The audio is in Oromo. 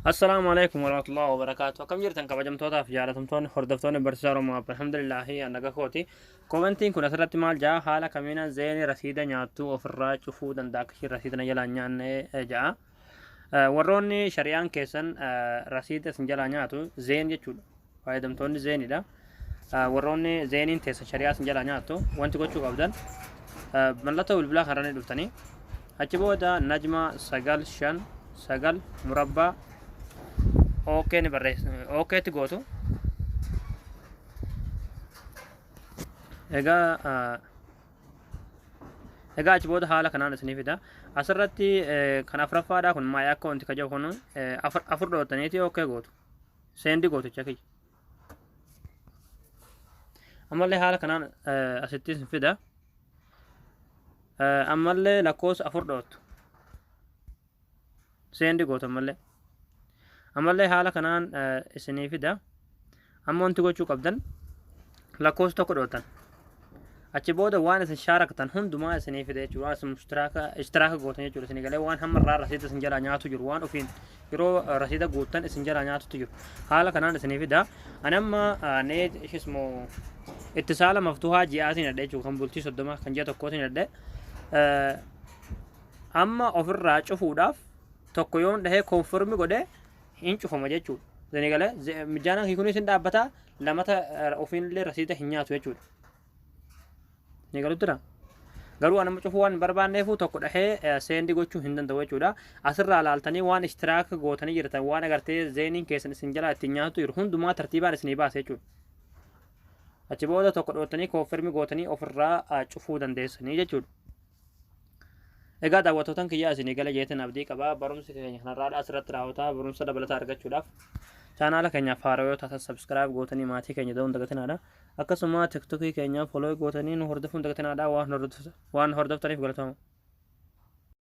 Assalaamu alaikum warahmatullahi wabarakaatu. Akkam jirtan kabajamtootaa fi jaalatamtoonni hordoftoonni barsiisaa Oromoo Abba alhamdulillahi annaga kooti. Komentiin kun asirratti maal ja'a haala kamiinaan zeeni rasiida nyaattuu ofirraa cufuu danda'a akka ishiin rasiida na jalaa hin nyaanne eh, ja'a. Eh, Warroonni shari'aan keessan eh, rasiida isin jalaa nyaatu zeen jechuudha. fayyadamtoonni zeeniidha. Warroonni zeeniin teessa shari'aa sin jalaa nyaattu wanti gochuu qabdan mallattoo bilbilaa kanarra ni dhuftanii achi booda najma sagal shan sagal murabbaa ookee ni barreessu ookeetti gootu egaa egaa achi booda haala kanaan isinii fida asirratti kan afraffaadhaa kun maayii akka wanti kajabu kun afur dhootaniiti ookee gootu seendi gooticha kiyya ammallee haala kanaan eh, asitti isin fida Eh, ammallee lakkoofsa afur dhoottu seendi gootu ammallee ammallee haala kanaan eh, isinii fida amma wanti gochuu qabdan lakkoofsa tokko dhoottan achi booda waan isin shaaraktan hundumaa isinii fida jechuudha waan isin mushtiraaka ishtiraaka gootan jechuudha isinii galee waan hamma irraa rasiida isin jalaa nyaatu jiru waan ofiin yeroo eh, rasiida guuttan isin jalaa nyaatutu jiru haala kanaan isinii fida ani amma eh, nee ishismo ittisaala maftuhaa ji'aatiin adhe jechuudha kan bultii soddoma kan ji'a tokkootiin adhe Eh, amma ofirraa cufuudhaaf tokko yoon dhahee konfirmi godhe hin cufama jechuudha. Isinii galee mijaanan hiikunis hin dhaabbataa lamata ofiin illee rasiida hin nyaatu jechuudha. Ni galutti dha. Garuu anuma cufuu waan hin barbaanneefuu tokko dhahee seendi gochuu hin danda'u jechuudha. Asirraa laaltanii waan ishtiraak gootanii jirtan waan agartee zeeniin keessan isin jalaa ittiin nyaatu jiru hundumaa tartiibaan isinii baasa jechuudha. Achi booda tokko dhoottanii kooffermi gootanii ofirraa cufuu dandeessanii jechuudha. Egaa daawwattootan kiyyaa isinii gala jeetan abdii qaba. Barumsi keenya kanarraadha asirratti raawwata. Barumsa dabalataa argachuudhaaf chaanaala keenyaaf haaraa yoo taatan sabskiraayib gootanii maatii keenya ta'uun dagatinaadha. Akkasuma tiktokii keenyaaf foloo gootanii nu hordofuun dagatinaadha waan hordoftaniif galatoomaa.